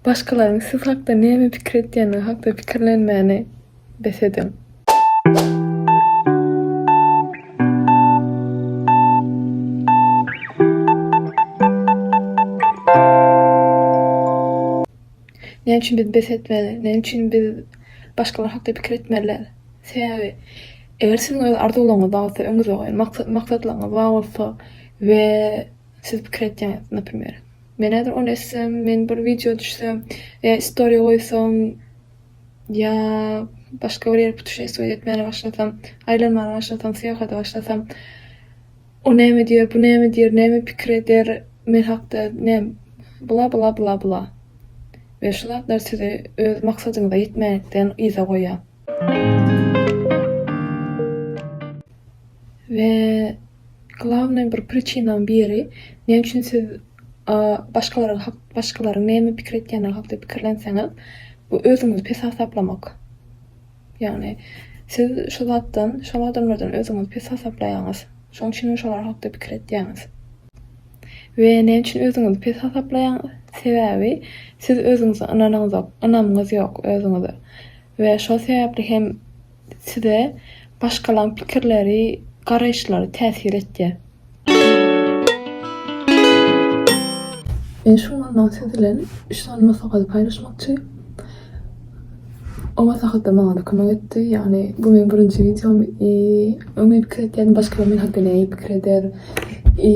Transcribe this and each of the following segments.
Başgalaryň siz hakda näme pikir edýändigi hakda pikirlenmäni bes ediň. Näme üçin biz bes etmeli? Näme üçin biz başgalar hakda pikir etmeliler? Sebäbi eger siziň öz arzuwlaryňyz bar bolsa, öňüňizde goýan maksatlaryňyz bar bolsa we siz pikir etýäňiz, naprimýer, Men häzir ony etsem, men bir wideo düşsem ýa istoriýa goýsam ýa başga bir ýere putuşestwiýe etmäne başlasam, aýlanmana başlasam, syýahata başlasam, o näme diýer, bu näme diýer, näme pikir eder men hakda, näm, bla, bla, bla, bla. We şu zatlar sizi öz maksadyňyza ýetmänlikden yza goýýar. We. Glawnaý bir priçinanyň biri, näme üçin siz başgalaryň hak, başgalaryň näme pikir etýändigi hakda pikirlenseňiz, bu özüňizi pes hasaplamak. Ýagny siz şu zatdan, şol adamlardan özüňizi pes hasaplaýaňyz. Şonuň üçin hem şolar hakda pikir etýäňiz. We näme üçin özüňizi pes hasaplaýaňyz? Sebäbi siz özüňize ynanyňyz ynamyňyz ýok özüňize. We şol sebäpli hem Size başgalaň pikirleri, garaýyşlary täsir etýär. Men şu günler siz bilen üç sany maslahaty paýlaşmakçy. O maslahatlar maňa-da kömek etdi. Ýagny bu meniň birinji wideom i öň men pikir etýärdim başgalar men hakda nähili pikir eder i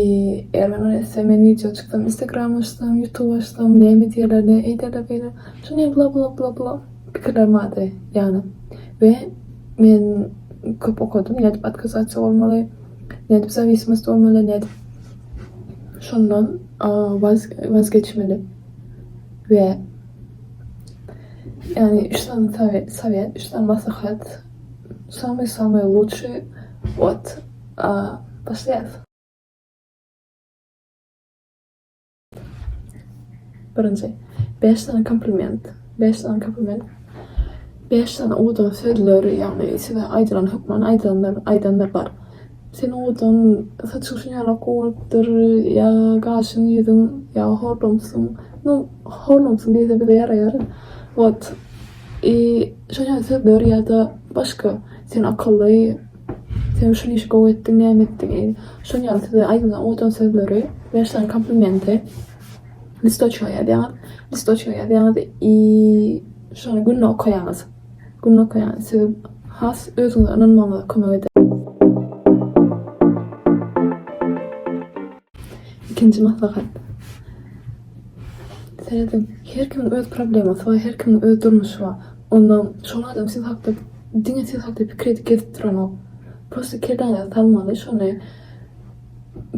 eger men ony etsem men wideo çyksam instagram açsam ýutub açsam näme diýerler näme eýderler beýle şuny bla bla bla bla. Pikirler mady ýaly we men köp okadym nädip otkazasiýa bolmaly, nädip zawismost bolmaly, nädip şondan waz geçmeli we ýagny üç sany sowet, üç sany maslahat, samyý samyý luçşyý wot başlaýas. Birinji. Bäş sany kompliment. Bäş sany kompliment. Bäş sany udan sözleri, ýagny size aýdylan hökman aýdylanlar, aýdanlar bar. Seniň udan saç guşuň ýaly gowulypdyr, ýa gaşyň, ýüzüň, ýa horlumsyň. Nu, horlumsyň diýse bize ýaraýar. Wot. I, şoň ýaly sözleri ýa-da başga seni akylly, Sen şul işi gowy etdiň näme etdiň eý. Şol ýaly size aýdylan owadan sözleri, bäş sany komplimenti listoçka ýazýaňyz, listoçka ýazýaňyz i şony günde okaýaňyz. Günde okaýaňyz size has özüňize ynanmagyňyza kömek eder. Ikinji maslahat. Seredin, her kimiň öz problemasy bar, her kimiň öz durmuşy bar. Onda şol adam siz hakda diňe siz hakda pikir edip gezip duranok. Prosta kelläňize salmaly şony,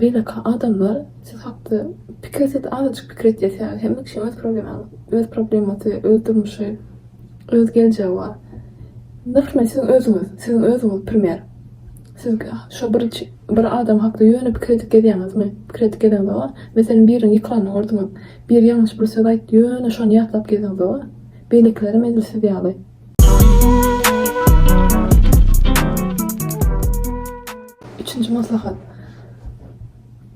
beýleki adamlar siz hakda pikir etse-de azajyk pikir etse sebäbi hemme kişiň öz problemaňy öz problemasy, öz durmuşy, öz geljegi bar. Nyrh bilen siziň özüňiz, siziň özüňiz primer. Siz şo bir bir adam hakda ýöne pikir edip gezýäňizmi? Pikir edip geziňizoga? Meselem biriniň ykylanny gördiňiz. Biri ýalňyş bir söz aýtdy ýöne şony ýatlap geziňizoga? Beýlekilerem edil siz ýaly. Üçünji maslahat.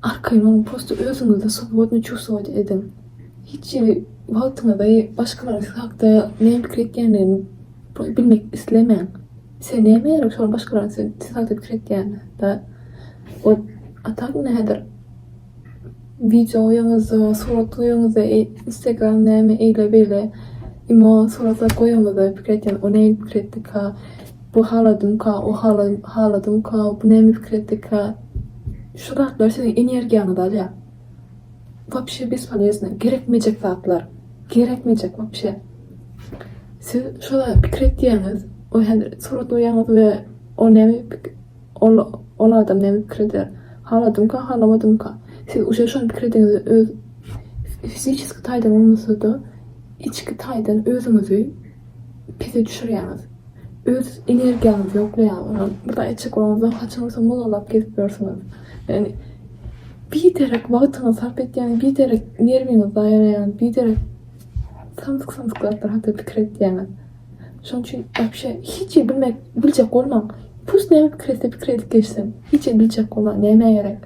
Arkaýyn prosto özüňizi swobodny çuwstwowat ediň. Hiç hili wagtyňyzy başgalaryň siz hakda näme pikir etýändigini bilmek islemäň. Sen näme gerek şol başgalaň sen tiz gaýdyp pikir etýäň da ol atam nädir wideo goýaňyzda surat goýaňyzda instagram näme eýle beýle imo suratlar goýaňyzda pikir etýän o näme pikir etdika bu haladymka o haladymka bu näme pikir etdika şu zatlar seniň energiýaňyzy alýar. Wapşe bespoleznä gerekmejek zatlar gerekmejek wapşe siz şola pikir etýäňiz we häzir surat goýýaňyz we ol näme pikir ol ol adam näme pikir eder haladymka halamadymka siz uje şony pikir ediňiz öz fiziçeski taýdan bolmasa-da içki taýdan özüňizi Pese düşürýäňiz. Öz energiýaňyzy ýoklaýaňyz. Bir zat etjek bolanyňyzda haçan bolsa mozalap gezip ýörsüňiz. Ýagny biderek wagtyňyzy sarp etýäňiz, biderek nerwiňizi zaýa edýäňiz, biderek samsyk-samsyk zatlar hakda pikir edýäňiz. Şonuň üçin wapşe hiç zat bilmek, biljek bolmaň. Pus näme pikir etse pikir edip geçsin. Hiç zat biljek bolmaň, nämä gerek.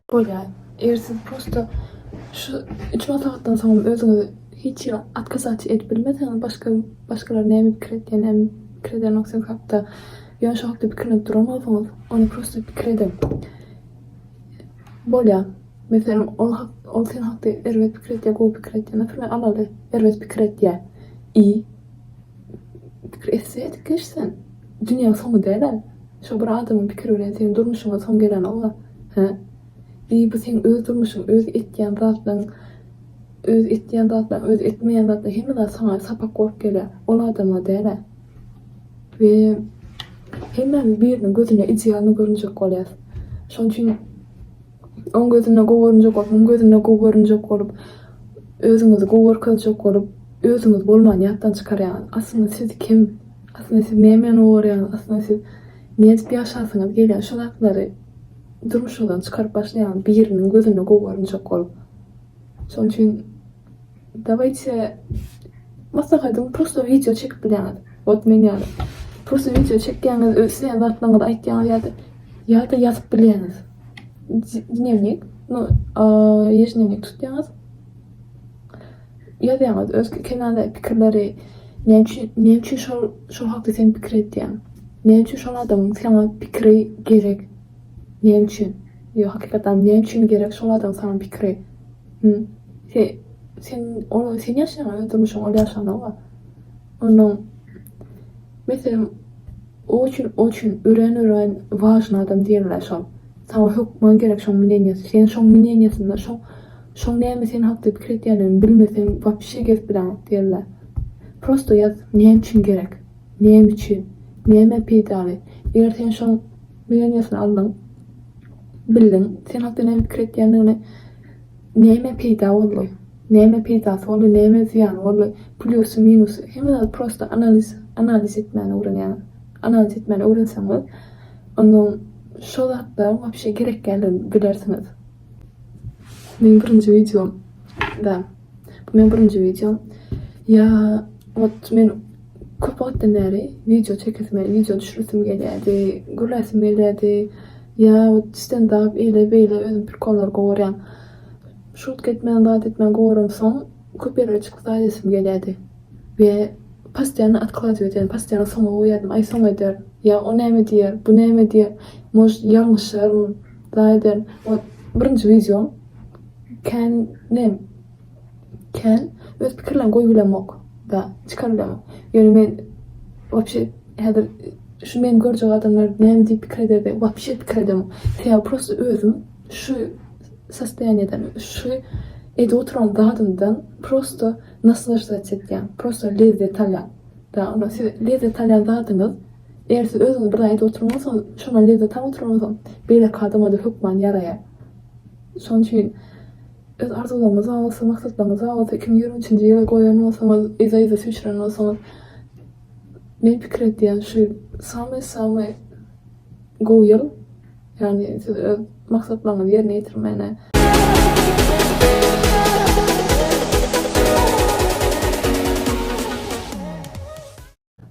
Bolýar. Eger siz prosto şu üç maslahatdan soňam özüňizi hiç ýere otkazaçy edip bilmeseňiz, başga başgalar näme pikir etýär, näme pikir edýänok siz hakda, ýöne şo hakda pikirlenip duran bolsaňyz, onda prosto pikir ediň. Bolýar. Meselem, ol hak, ol sen hakda erbet pikir etýär, gowy pikir etýär. Naprimýer, alaly, erbet pikir etýär. I pikir etse, edip geç sen. Dünýäň soňy dälä. Şo bir adamyň pikiri bilen seň durmuşyňa soň gelenok-a, hä? Deý, bu seň öz durmuşyň, öz etýän zatlaň, öz etýän zatlaň, öz etmeýän zatlaň, hemme zat saňa sapak bolup gelýär, ol adama däl-ä. We hemmämiz biriniň gözüne idealnyý görünjek bolýarys. Şonuň üçin Oň gözünde gowy görünjek bolup, muň gözünde gowy görünjek bolup, özüňizi gowy görkezjek bolup, özüňiz bolmany ýatdan çykarýaňyz. Aslynda siz kim? Aslynda siz nämä gowy görýäňiz? Aslynda siz nädip ýaşasyňyz gelýär? Şu zatlary durmuşyňyzdan çykaryp başlaýaňyz biriniň gözünde gowy görünjek bolup. Şonuň üçin Dawaýte maslahatyň pursa wideo çekip bilýäňiz. Wot men ýaly. Pursa wideo çekýäňiz öz isleýän zatlaryňyzy aýtýaňyz ýa-da ýa-da ýazyp bilýäňiz. Dnewnik, no ýeždnewnik tutýaňyz. Ýazýaňyz öz kenarda pikirleri näme üçin näme üçin şol şol hakda sen pikir edýäň. Näme üçin şol adamyň saňa pikiri gerek. Näme üçin. Ýo hakykatdan näme üçin gerek şol adamyň saňa pikiri. Hum. Se, sen, ol, sen ýaşaýan öz durmuşyňy ol ýaşanok-a. Onnoň, meselem, o üçin, o üçin örän, örän wažnyý adam diýenler şol. Saňa hökman gerek şoň mneniýasy. Sen şoň mneniýasynda şoň, şoň näme sen hakda pikir etýändigini bilmeseň wapşe gezip bileňok diýenler. Prosto ýaz, näme üçin gerek? Näme üçin? Nämä peýdaly? Eger sen şoň mneniýasyny aldyň, bildiň, sen hakda näme pikir etýändigini, Näme peýda boldy? Näme peýdasy boldy, näme zyýany boldy? Plýusy, minusy. Hemme zady prosta analiz, analiz etmäni öwrenýäňiz. Analiz etmäni öwrenseňiz, onda şo zatlaryň wapşe gerekýändigini bilersiňiz. Meniň birinji wideom, da. Bu meň birinji wideom. Ýa ot men köp wagtdan bäri wideo çekesim ýa wideo düşüresim gelýärdi, gürläsim gelýärdi. Ýa ot stendap eýle beýle özüm prikollar gowarýan. Şutga etmän zat etmän gowaramsoň köp ýerlere çykyp zat edesim gelýärdi. We pastoýanno otkladýa edýärdim, pastoýanno soňa goýýardym, aý soň ederin, ýa o näme diýer, bu näme diýer, может ýalňyşaryn, zat ederin. Ot birinji wideom. Kän nem kän öz pikirleň goýup bilemok da çykaryp bilemok ýöne men wapşe häzir şu meni görjek adamlar näme diýip pikir eder diýip wapşe pikir edemok sebäbi prosta özüm şu sostoýaniýadan şu edip oturan zadymdan prosta naslaždac etýän prosta lezzet alýan da ondan siz lezzet alýan zadyňyz eger siz özüňiz bir zat edip oturansoň şondan lezzet alyp oturansoň beýleki adamada hökman ýaraýar. Şonuň üçin öz arzuwlaryňyz bar bolsa, maksatlaryňyz bar bolsa, iki müň ýigrimi üçünji ýyla goýan bolsaňyz, yza-yza süýşürýän bolsaňyz, men pikir edýän şu ýyl samy-samy gowy ýyl. Ýagny siz öz maksatlaryňyzy ýerine ýetirmäne.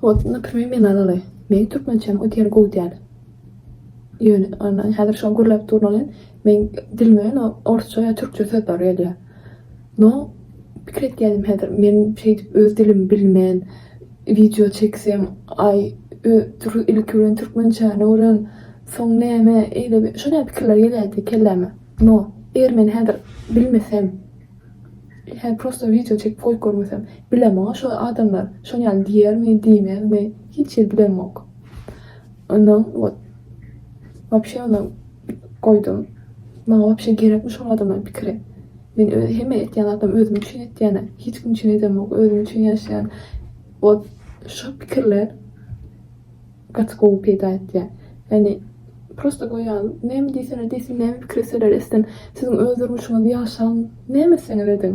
Bolsun da primi men alaly. Meň türkmençem o diýen gowy däl. Ýöne ondan häzir şol gürläp durnalyn meň dilime no orsça ýa türkçe söz bar gelýär. No pikir etýädim häzir men şeýdip öz dilimi bilmän wideo çeksem aý ö turu ilki bilen türkmençäni öwren soň näme eýle şonä pikirler gelýärdi kelläme. No eger men häzir bilmesem. Hä prosto wideo çekip goýup görmesem. Bilem maňa şo adamlar şon ýaly diýermi diýmezmi hiç hili bilemok. Ondan wot wapşe ondan goýdum. Maňa wapşe gerekmi şol adamlaryň pikiri. Men öz hemme etýän zatlarym özüm üçin etýän-ä. Hiç kim üçin edemok özüm üçin ýaşaýan. Wot şo pikirler. Gaty gowy peýda etýär. Ýagny prosta goýýan näme diýseler diýsin näme pikir etseler etsin siziň öz durmuşyňyzy ýaşaň näme etseňiz ediň.